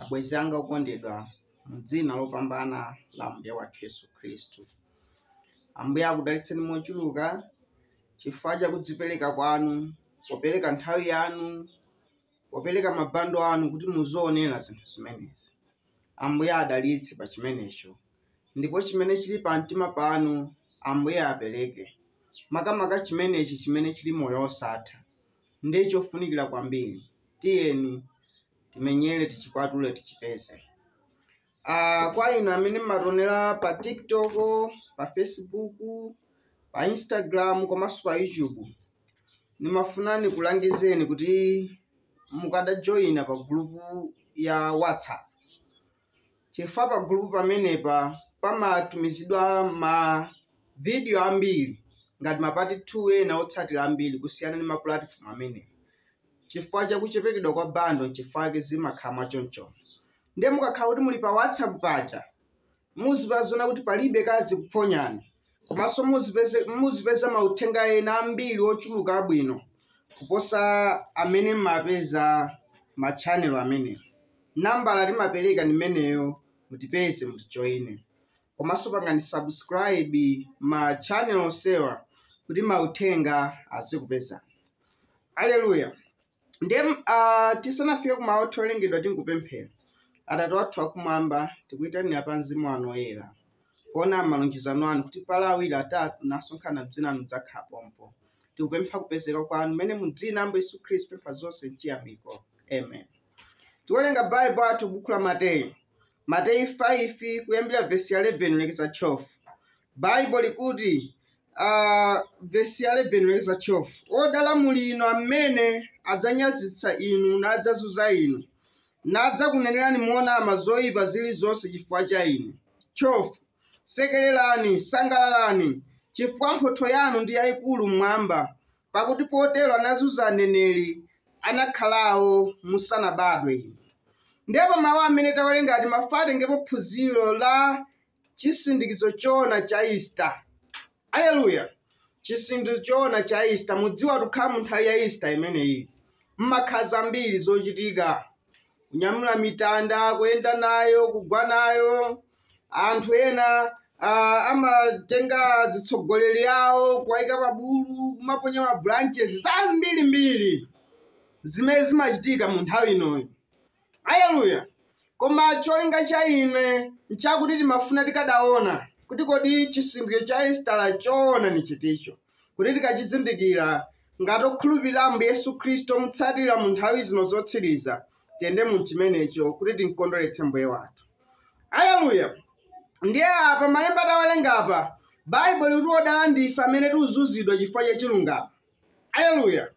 Abwenzi anga okondedwa, mu dzina lopambana la Ambuye wathu Yesu Khristu, Ambuye akudalitseni mochuluka chifukwa cha kudzipereka kwanu, popereka nthawi yanu, popereka mabando anu kuti muzoonera zinthu zimenezi. Ambuye adalitse pa chimenecho, ndipo chimene chili pa mtima panu Ambuye apereke, makamaka chimenechi chimene chili moyo osatha. ndiye chofunikira kwambiri. Tiyeni timenyere tichikwatule tichipeze. Ah, kwa inu amene mmationera pa TikTok, pa Facebook, pa Instagram komanso pa YouTube, ndimafuna nikulangizeni kuti mukadajoyina pa gulupu ya WhatsApp chifukwa pagulupu pamenepa pamatumizidwa mavidiyo ambiri ngati mapati 2 ena otsatira ambiri kusiyana ndi mapulatifomu amenewo. Chifukwa cha kuchepekedwa kwa bando chifukwa chake zimakhala mwachonchomo. Ndiye mukakhala kuti muli pa WhatsApp paja, muzipeza muziona kuti palibe kazikuphonyani Komanso muzipeza mauthenga ena ambiri ochuluka abwino kuposa amene mmapeza ma channel amenewo. Nambala timapereka ndi imeneyo mutipeze mutijoine. Komanso pangani subscribe ma channel onsewa kuti mauthenga azikupezani. Aleluya! Ndiye uh, tisanafike ku mawu owerengedwa tingopemphera. Atate athu akumwamba, tikuyitanira pa mzimu wanu woyera. Poona malonjezano anu kuti pali awiri atatu nasonkhana m'dzina lanu mudzakhala pompo. Tikupempha kupezeka kwanu mmene mu dzina la Ambuye Yesu Khristu pempha zonse mchiyamiko. Amen. Tiwerenga Baibulo athu buku la Mateyu. Mateyu 5 kuyambira vesi ya 11 lekeza 12. Baibulo likuti uh, vesi ya 11 lekeza 12. Odala muli inu amene adzanyazitsa inu nadzazunza inu nadzakunenerani monama zoipa zilizonse chifukwa cha ine. 12 Sekererani, sangalalani, chifukwa mphotho yanu ndi yaikulu m'Mwamba, pakuti potero anazunza aneneri anakhalawo musanabadwe inu. Ndipo mawu amene tawerenga timafuna titengepo phunziro la chisindikizo choona cha Easter. Aleluya! Chisindikizo choona cha Easter. Mudziwa tukhala mu nthawi ya Easter imeneyi. Mmakhala zambiri zochitika. Kunyamula mitanda, kuyenda nayo, kugwa nayo. Anthu ena ah, amatenga azitsogoleri awo kuwayika pa bulu, kumaponya ma branches zambirimbiri zimene zimachitika mu nthawi inoyo. Aleluya! Koma cholinga cha ine nchakuti timafuna tikadaona kuti kodi chisindikizo cha Isitala choona ni chiticho, kuti tikachizindikira, ngati okhulupirira Ambuye Yesu Khristu omutsatira mu nthawi zino zotsiriza, tiyende mu chimenecho kuti timkondweretse Mbuye wathu. Aleluya! Ndiye apa malemba tawerenga apa, Baibulo likuti odala ndife amene tuzunzidwa chifukwa cha chilungamo. Aleluya!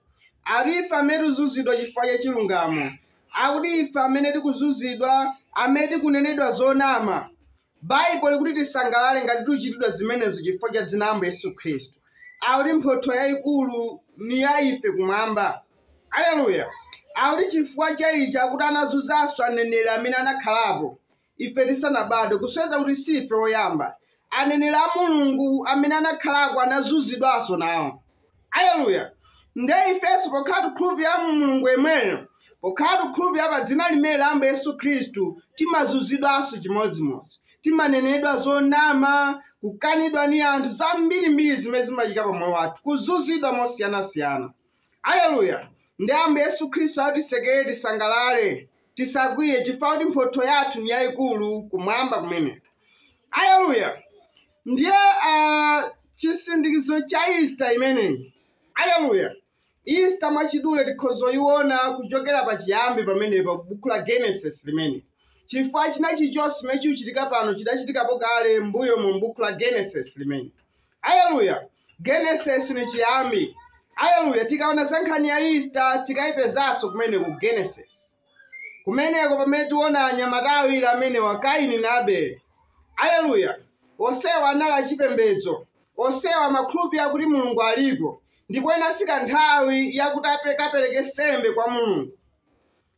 Ati ife amene tikuzunzidwa chifukwa cha chilungamo, akuti ife amene tikuzunzidwa, amene tikunenedwa zonama. Baibulo likuti tisangalale ngati tichitidwa zimenezo chifukwa cha dzina la Ambuye Yesu Khristu, akuti mphotho yayikulu ni ya ife kumwamba. Aleluya! Akuti chifukwa cha ichi akuti anazunzanso aneneri amene anakhalapo, ife tisanabadwe kusonyeza kuti si ife oyamba aneneri a mulungu amene anakhalako anazunzidwanso nawo aleluya nde ifenso pokhala tikhulupirira mulungu yemweyo pokhala tikhulupirira pa dzina limene la ambuye yesu khristu timazunzidwanso chimodzimodzi timanenedwa zonama kukanidwa ni anthu zambirimbiri zimene zimachitika pa moyo wathu kuzunzidwa mosiyanasiyana Aleluya! Ndi Ambuye Yesu Khristu akuti tisekere, tisangalale, tisakwiye, chifukwa kuti mphotho yathu ni yayikulu kumwamba kumene. Aleluya! Ndiye ah, chisindikizo cha Easter imeneyi. Aleluya! Easter mwachidule tikhoza kuyiona kuchokera pa chiyambi pamenepa ku buku la Genesis limene chifukwa china chilichonse chimene chikuchitika pano chidachitikapo kale mbuyo mu buku la Genesis limene. aleluya genesis ni chiyambi aleluya tikaona za nkhani ya ista tikayipezanso kumene ku genesis kumeneko pamene tiona anyamata awiri amenewa kaini na abele aleluya onsewa anali achipembedzo onsewa amakhulupirira kuti mulungu alipo ndipo inafika nthawi yakuti ape- akapereke sembe kwa mulungu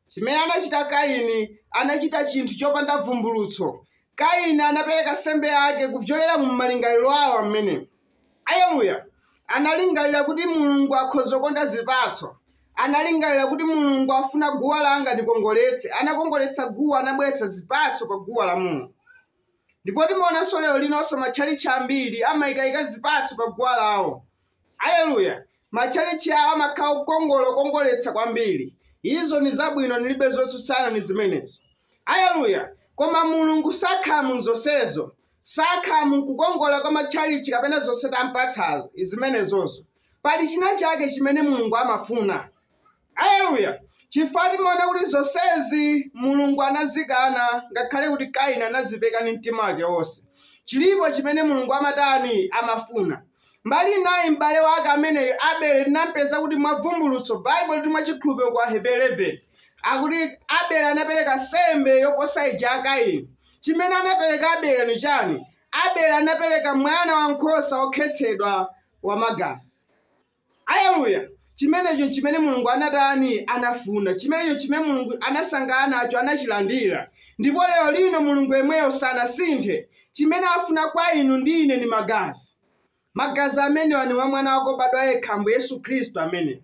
Chimene anachita Kaini, anachita chinthu chopanda bvumbulutso. Kaini anapereka sembe yake kupyolera mu malingaliro awo amene. Aleluya! Analingalira kuti Mulungu akhoza kukonda zipatso. Analingalira kuti Mulungu afuna guwa langa ndikongoletse, anakongoletsa guwa, anabweretsa zipatso pa guwa la Mulungu. Ndipo timaonanso lero linonso matchalitchi ambiri amaikaika zipatso pa guwa lawo. Aleluya! Matchalitchi awo amakhala okongola, okongoletsa kwambiri. Izo ni zabwino, nilibe zotsutsana ni zimenezo. Aleluya! Koma Mulungu sakhala mu zonsezo, sakhala mu kukongola kwa matchalitchi kapena zonse tampatsazo, zimenezozo. Pali chinachake chimene Mulungu amafuna. Aleluya! Chifukwa timaona kuti zonsezi Mulungu anazikana ngakhale kuti Kaini anazipereka ndi mtima wake wonse. Chilipo chimene Mulungu amatani? Amafuna. Mbali inayo m'bale wake ameneyu Abele tinampeza kuti mwa bvumbulutso Baibulo liti mwa chikhulupiro ku Aheberi 11 akuti Abele anapereka nsembe yoposa ija ya Kaini. Chimene anapereka Abele ni chani? Abele anapereka mwana wa nkhosa wokhetsedwa wamagazi. Aleluya! Chimenecho nchimene Mulungu anatani, anafuna. Chimenecho nchimene Mulungu anasangalala nacho, anachilandira. Ndipo lero lino Mulungu yemweyo sanasinthe. Chimene afuna kwa inu ndi ine ni Magazi. Magazi amenewa ni a Mwana wake wobadwa yekha, Ambuye Yesu Khristu ameneyo.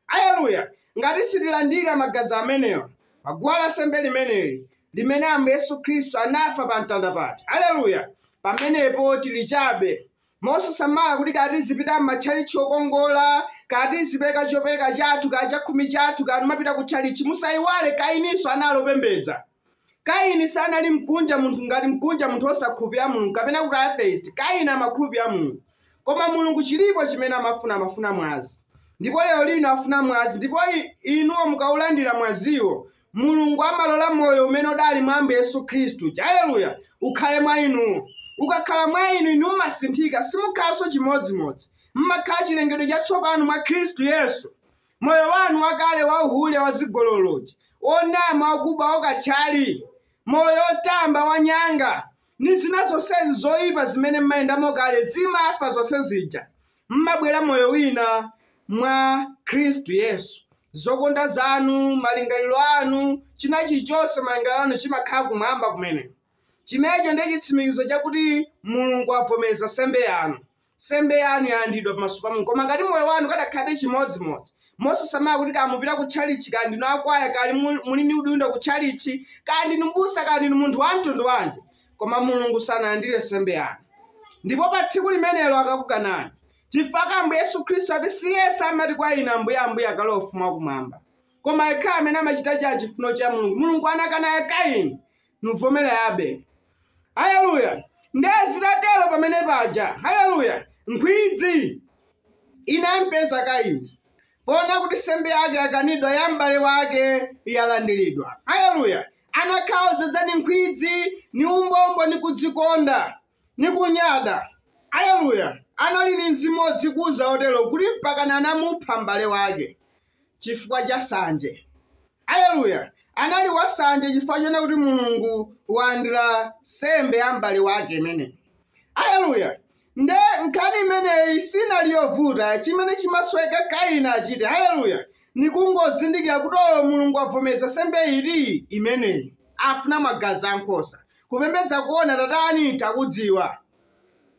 Aleluya! Ngati sitilandira Magazi amenewa, pa guwa la nsembe limeneli, limene Ambuye Yesu Khristu anafa pa mtanda paja, aleluya, pamenepo tili chabe. Mosasamala kuti kaya tizipita m'matchalitchi okongola, kaya tizipereka chopereka chathu, kaya chakhumi chathu, kaya timapita kutchalitchi, musaiwale Kaininso anali wopembedza. Kaini sanali mkunja munthu ngati mkunja munthu osakhulupirira Mulungu kapena kuti atheist. Kaini amakhulupirira Mulungu. Koma Mulungu chilipo chimene amafuna, amafuna mwazi. Ndipo lero lino afuna mwazi ndipo i, inuyo mukaulandira mwaziwo, mulungu amalola moyo umene udali mwa ambuye yesu khristu haleluya ukhale mwa inuyo ukakhala mwa inu inu mumasinthika simukhalanso chimodzimodzi mmakhala chilengedwe chatsopano mwa khristu yesu moyo wanu wakale wa uhule wa zigololozi wonama wakuba wakatchali moyo wotamba wanyanga ndi zina zonsezi zoyipa zimene mmayendamo kale zimafa zonse zija mmabwera moyo wina mwa Khristu Yesu, zokonda zanu, malingaliro anu, china chilichonse, malingaliro anu chimakhala kumwamba kumene. Chimenecho ndiye chitsimikizo chakuti Mulungu avomereza nsembe yanu. Nsembe yanu yalandidwa pamaso pa Mulungu. Koma ngati moyo wanu ukadakhalabe chimodzimodzi, mosasamala kuti kaya mupita ku tchalitchi, kaya ndinu akwaya, kaya muli ndi udindo ku tchalitchi, kaya ndinu mbusa, kaya ndinu munthu wamtundu wanji, koma mulungu sanalandire nsembe yanu ndipo pa tsiku limenelo akakukanani chifukwa ambuye yesu khristu ati si yense amati kwa ine ambuye ambuye akalowa ufumu wakumwamba koma yekhayo amene amachita cha chifuno cha mulungu mulungu anakana ya kaini navomera ya abele haleluya ndiye zitatero pamene paja haleluya nkhwidzi inampeza kaini poona kuti nsembe yake yakanidwa ya m'bale wake yalandiridwa haleluya Anakhala odzadza ni nkhwidzi, ni umbombo, ni kudzikonda, ni kunyada. Aleluya! Anali ni mzimu wodzikuza wotero kuti mpakana anamupha m'bale wake chifukwa cha sanje. Aleluya! Anali wasanje chifukwa choona kuti Mulungu walandira nsembe ya m'bale wake imeneyi. Aleluya! Nde nkhani imeneyi sinali yovuta chimene chimasoweka kaini achite haleluya ni kungozindikira kuti oo mulungu wabvomeza nsembe ili imeneyi afuna magazi a nkhosa kupembedza koona tatani takudziwa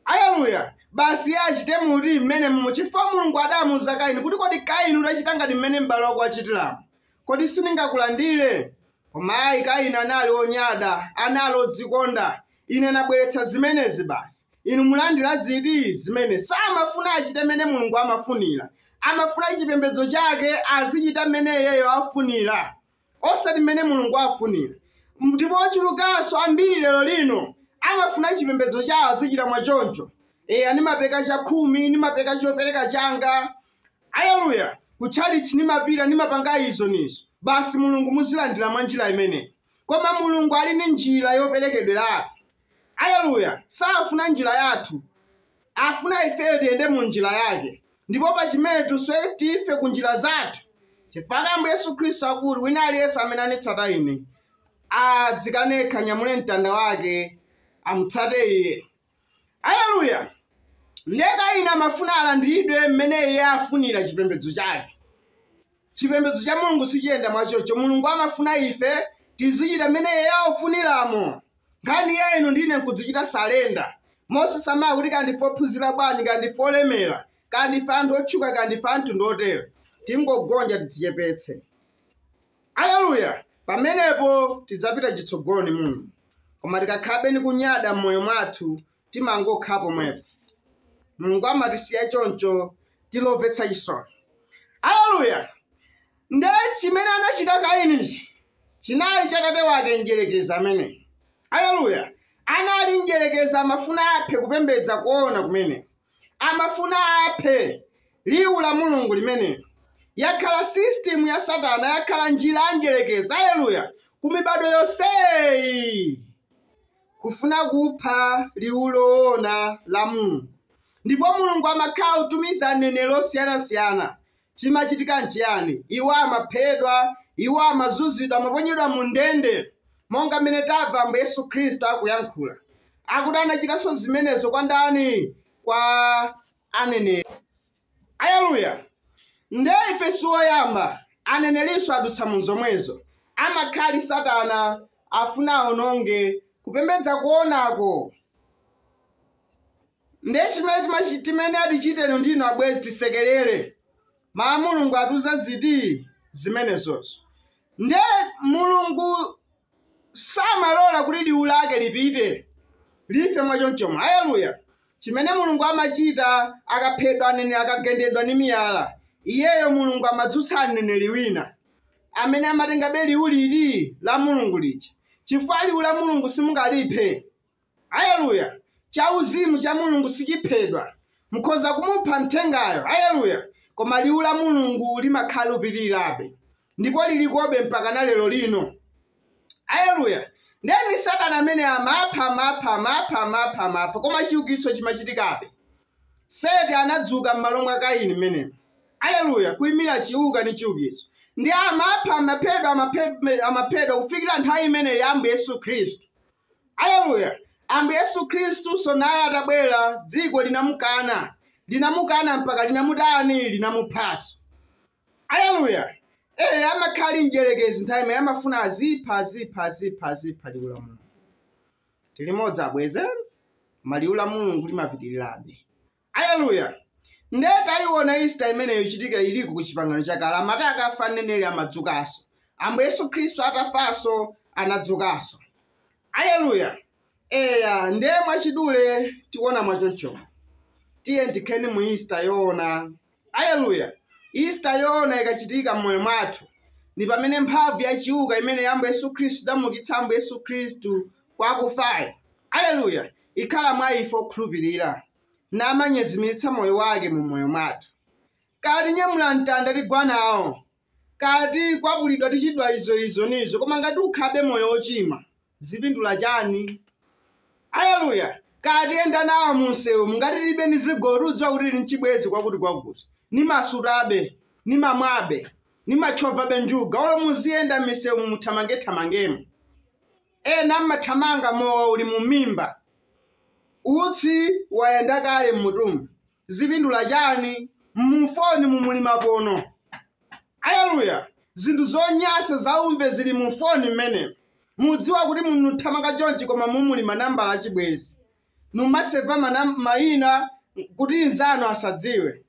haleluya basi iye achite muli mmenemomo chifukwa mulungu adamuuza kaini kuti kodi kaini utachita ngati mmene m'bale wako wachitiramu Kodi sindingakulandire? Koma ayi, Kaini anali wonyada, anali wodzikonda. Ine nabweretsa zimenezi basi. Inu mulandira ziti? Zimene. Samafuna achite mmene Mulungu amafunira. Amafuna chipembedzo chake azichita mmene iyeyo afunira, osati mmene Mulungu afunira. Ndipo ochulukanso ambiri lero lino amafuna chipembedzo chawo azichita mwa choncho. Eya, ndimapereka chakhumi, ndimapereka chopereka changa, Aleluya! Ku tchalitchi ndimapita, ndimapanga izo ni izo. Basi Mulungu muzilandira mwa njira imeneyo. Koma Mulungu ali ndi njira yoperekedweratu. Aleluya! Safuna njira yathu, afuna ifeyo tiyende mu njira Yake. Ndipo pa chimene tonse tife ku njira zathu, chifukwa Ambuye Yesu Khristu akuti, Wina aliyense amene anitsata Ine, adzikane yekha, anyamule mtanda wake, amutsate Iye. aleluya ndiye kaini amafuna alandiridwe mmene iye afunira chipembedzo chake chipembedzo cha mulungu sichiyenda mwachoncho mulungu amafuna ife tizichita mmene iye afuniramo nkhani ya inu ndi ine nkudzichita surrender mosasamala kuti kaya ndife ophunzira bwanji kaya ndife olemera kaya ndife anthu otchuka kaya ndife a mtundu wotero tingogonja tidzichepetse Aleluya! Pamenepo tidzapita chitsogolo ni Mulungu. Koma tikakhalabe ni kunyada m'moyo mwathu, timangokhala pomwepo. Mulungu amatisiya choncho tili omvetsa chisoni. Aleluya! Nde chimene anachita Kainichi chinali cha tate wake mdyerekezi ameneyo. Aleluya! Anali mdyerekezi amafuna aphe kupembedza koona kumeneko. amafuna aphe Liwu la Mulungu limenelo. Yakhala system ya Satana, yakhala njira ya Mdyerekezi, aleluya, ku mibadwo yonseyi, kufuna kupha Liwu loona la Mulungu. Ndipo Mulungu amakhala akutumiza aneneri osiyanasiyana, Chimachitika nchiyani? Iwo amaphedwa, iwo amazunzidwa, amaponyedwa mu ndende, monga mmene tamva Ambuye Yesu Khristu akuyankhula, akuti anachitanso zimenezo kwa ndani? Kwa aneneri. Aleluya! Nde ife si oyamba, anenerinso adutsa mu zomwezo. Amakhala ali Satana, afuna awononge kupembedza koonako. Ndiye chimene timachi timene ati chitenu ndi inu abwenzi tisekerere. Mawu a Mulungu atiuza ziti? Zimenezozo. Ndiye, Mulungu samalola kuti liwu Lake lipite, life mwa chonchomo. Aleluya! Chimene Mulungu amachita, akaphedwa aneneri, akagendedwa ndi miyala, Iyeyo, Mulungu, amadzutsa mneneri wina, amene amatengabe liwu liri la Mulungu lija, chifukwa liwu la Mulungu simungaliphe. Aleluya! Chauzimu cha Mulungu sichiphedwa. Mukhoza kumupha mthengayo, aleluya, koma Liwu la Mulungu limakhala likupitirirabe, ndipo lirikobe mpakana lero lino. Aleluya! Ndiye ndi Satana amene amapha, amapha, amapha, amapha, amapha, koma chiukitso chimachitikabe. Seti anadzuka mmalo mwa Kaini mmenemo, aleluya, kuimira chiuka ndi chiukitso, ndiye amapha, amaphedwa, amaphedwa, amaphedwa, kufikira nthawi imeneyo ya Ambuye Yesu Khristu. Aleluya! Ambuye Yesu Khristunso naye atabwera, dziko linamukana, linamukana mpaka linamutani? Linamuphanso. Aleluya! Eya, amakhala ali mdierekezi nthawi imene amafuna azipha, azipha, azipha, azipha liwu la Mulungu. Tilimodzi abwenzi, koma liwu la Mulungu limapitirirabe. Aleluya! Ndiye tayiwona Isita imeneyo ikuchitika iliko ku Chipangano Chakale, amati akafa mneneri amadzukanso. Ambuye Yesu Khristu atafanso, anadzukanso. Aleluya! Eya, ndiye mwachidule tiwona mwa choncho. Tiyeni tikheni mu Isita yowona. Aleluya! Isita yoona ikachitika m'moyo mwathu, ni pamene mphamvu ya chiuka imene ya Ambuye Yesu Khristu idamuukitsa Ambuye Yesu Khristu kwa akufayo, aleluya, ikhala mwa ife okhulupirira, namanyezimiritsa moyo wake mu moyo mwathu. Kaya tinyamula mtanda tigwa nawo, kaya tikwapulidwa tichitidwa izo izo nizo koma ngati ukhabe moyo wochimwa zipindula chani aleluya kaya tiyenda nawo mu msewumu ngati tilibe ni zigo tiudziwa kuti tili nchibwezi kwakuti kwakuti nimasutabe nimamwabe nimatchovabe njuga olo muziyenda m'misewumu muthamangethamangemo ena mmathamanga mowa uli mu mimba utsi wayenda kale mmutumu zipindula chani mufonimu muli mapono aleluya zinthu zonyansa zaumve zili mufoni mmene mudziwa kuti mukuthamanga chonchi koma mumuli manambala achibwezi numaseva manam- mayina kuti mnzanu asadziwe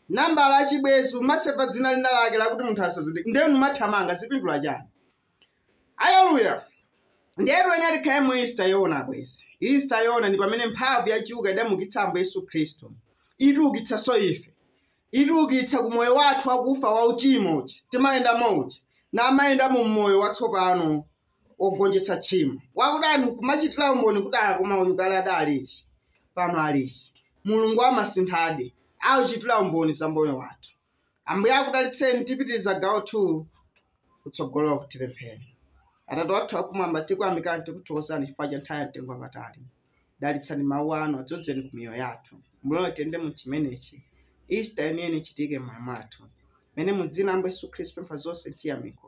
nambala achibwezi umaseva dzina lina lake lakuti munthu asazindike ndiye numathamanga zipindula chani Aleluya! Ndiye tuyenera tikhale mu Easter yoona abwenzi. Easter yoona ndi pamene mphamvu ya chiuka idamukitsa Ambuye Yesu Khristu. Itiukitsanso ife. Itiukitsa ku moyo wathu wakufa wa uchimo uja. Timayendamo uja. N'kumayenda mu moyo watsopano wogonjetsa tchimo. Akudali n'kumachitira umboni kuti ah koma uyu kale adali ichi. Pano ali ichi. Mulungu amasinthadi. Akuchitira umboni za moyo wathu. ambuye akudalitseni tipitiriza gawo 2 kutsogolo kuti tipemphere atate wathu akumwamba tikuyamikani tikuthokozani chifukwa cha nthawi ya mtengo wapatali dalitsani mawu anu adzodzeni ku miyoyo yathu mulole tiyende mu chimenechi easter yeniyeni ichitike mmoyo mwathu mene mu dzina la ambuye yesu khristu pempha zonse m'chiyamiko